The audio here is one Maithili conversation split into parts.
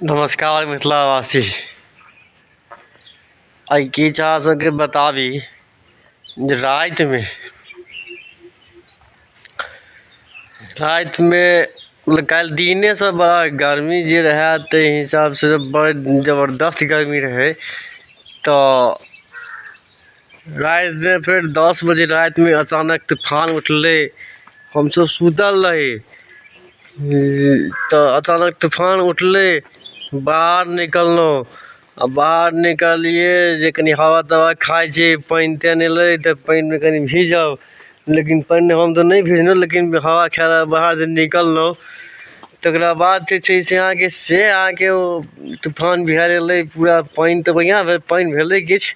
नमस्कार मिथिलावासी आइ की चाह सबके बताबी जे रातिमे रातिमे मतलब काल्हि दिनेसँ बड़ा गर्मी जे रहए ताहि हिसाबसँ बड़ जबरदस्त गर्मी रहै तऽ रातिमे फेर दस बजे रातिमे अचानक तूफान उठलै हमसभ सुतल रही तऽ अचानक तूफान उठलै बाहर निकललहुँ आओर बाहर निकललियै जे कनि हवा तवा खाइ छियै पानि तानि एलै तऽ पानिमे कनि भीजब लेकिन पानिमे हम तऽ नहि भिजलहुँ लेकिन हवा खाइ लए बाहर जे निकललहुँ तकरा बाद जे छै से अहाँके से अहाँके ओ तूफान बिहारि एलै पूरा पानि तऽ बढ़िआँ भेल पानि भेलै किछु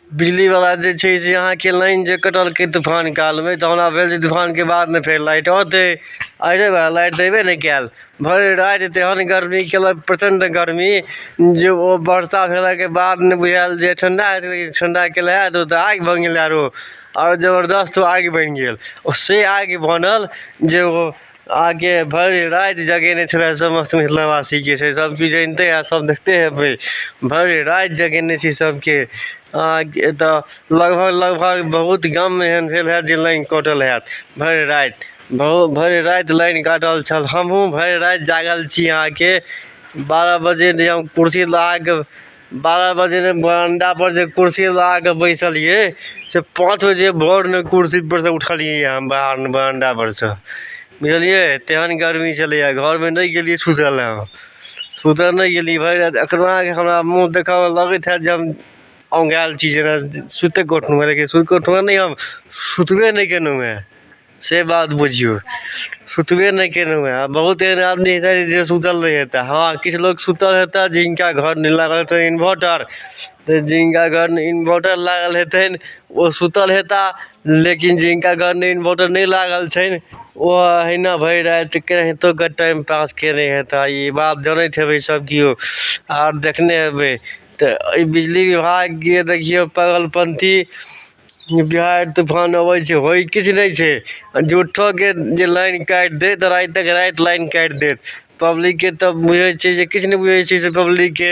बिजलीवला जे छै से अहाँके लाइन जे कटलकै तूफान कालमे तऽ हमरा भेल जे तूफानके बादमे फेर लाइट औतै आइ रे बा लाइट तऽ अएबे नहि कएल भरि राति तेहन गरमी केलक प्रचण्ड गरमी जे ओ बरसा भेलाके बाद ने बुझाएल जे ठण्डा हेतै लेकिन ठण्डा केलै हेँ तऽ ओ तऽ आगि बनि गेलै आओर आओर जबरदस्त ओ आगि बनि गेल ओ से आगि बनल जे ओ आगे भरि राति जगेने छलै समस्त मिथिलावासीके से सब किछु जनिते होयब सब देखते होयबै भरि राति जगेने छी सबके आगे तऽ लगभग लगभग बहुत गाममे एहन भेल होयत जे लाइन कटल होयत भरि राति बहुत भरि राति लाइन कटल छल हमहुँ भरि राति जागल छी अहाँके बारह बजे जे हम कुर्सी लगाके बारह बजे ने बरंडा पर जे कुर्सी लगा के बैसलिए से पाँच बजे भोर ने कुर्सी पर से उठलिए हम बाहर ने बरंडा पर से बुझलिए तेहन गर्मी छलैए घर में नहीं गेलिए सुतल हम सुतल नहीं गेलिए भरि राति एतना कि हमरा मुँह देखऽ में लगैत है जे हम औंघायल छी जेना सुति कऽ उठलहुँ लेकिन सुति कऽ उठलहुँ नहि हम सुतबे नहि केलहुँ हेँ से बात बुझियौ सुतबे नहि केलहुँ हँ बहुत एहन आदमी हेतै जे सुतल नहि हेतै हँ किछु लोक सुतल हेतै जिनका घर नहि लागल हेतै इन्भर्टर तऽ जिनका घर नहि इन्भर्टर लागल हेतनि ओ सुतल हेता लेकिन जिनका घर नहि इन्भर्टर नहि लागल छनि ओ अहिना भरि राति केनाहितो कऽ टाइम पास कयने हेता ई बात जनैत हेबै सभ केओ आर देखने हेबै तऽ एहि बिजली विभागके देखियौ पागलपन्थी बिहार तूफान अबै छै होइ किछु नहि छै आ झूठोके जे लाइन काटि देत तऽ रातिक राति लाइन काटि देत पब्लिकके तऽ बुझै छियै जे किछु नहि बुझै छियै से पब्लिकके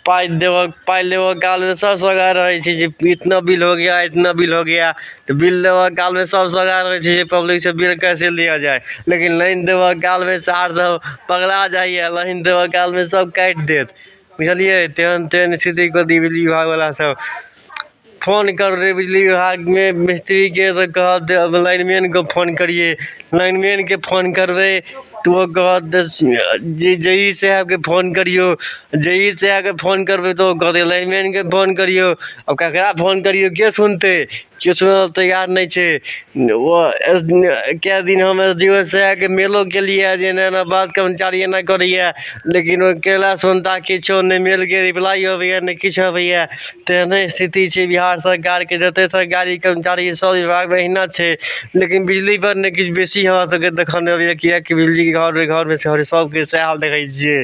पाइ देबऽ पाइ लेबऽ कालमे सभ सौगार रहै छै जे इतना बिल हो गया इतना बिल हो गया तऽ बिल लेबऽ कालमे सभ सौगार रहै छै जे पब्लिकसँ बिल कैसे लिया जाय लेकिन लाइन देबऽ कालमे सार सभ पगला जाइए लाइन देबऽ कालमे सभ काटि देत बुझलियै तेहन तेहन स्थिति कऽ दी बिजली विभागवला सभ फोन कर रे बिजली विभागमे मिस्त्रीके तऽ कहत जे अब लाइनमैनके फोन करियै लाइनमैनके फोन करबै तऽ ओ कहत जे जे ई साहेबके फोन करियौ जे ई साहेबके फोन करबै तऽ ओ कहतै लाइनमैनके फोन करियौ आब ककरा फोन करियौ के सुनतै केओ सुनै लए तैयार नहि छै ओ कए दिन हम एस डी ओ से आके मेलो केलियै जे एना एना बात कर्मचारी एना करैया लेकिन ओ कयलासँ हुनका किछो नहि मेलके रिप्लाइ अबैया नहि किछु अबैया तेहने स्थिति छै बिहार सरकारके जते सरकारी कर्मचारी सब बिभागमे अहिना छै लेकिन बिजली पर नहि किछु बेसी हमरा सबके देखऽमे अबैया किएकि बिजली घर सबके सएह हाल देखै छियै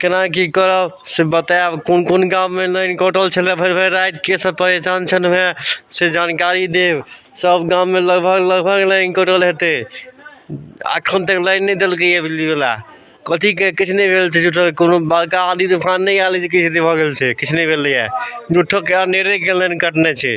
केना की करब से बतायब कोन कोन गाममे लाइन कटल छलै भरि भरि राति के सब परेशान छल वएह से जानकारी देब सब गाममे लगभग लगभग लाइन कटल हेतै एखन तक लाइन नहि देलकैए बिजलीवला कथीके किछु नहि भेल छै झूठो कोनो बड़का आँधी तूफान नहि आयल जे किछु भऽ गेल छै किछु नहि भेलैए झूठोके अनेरे गेल लाइन कटने छै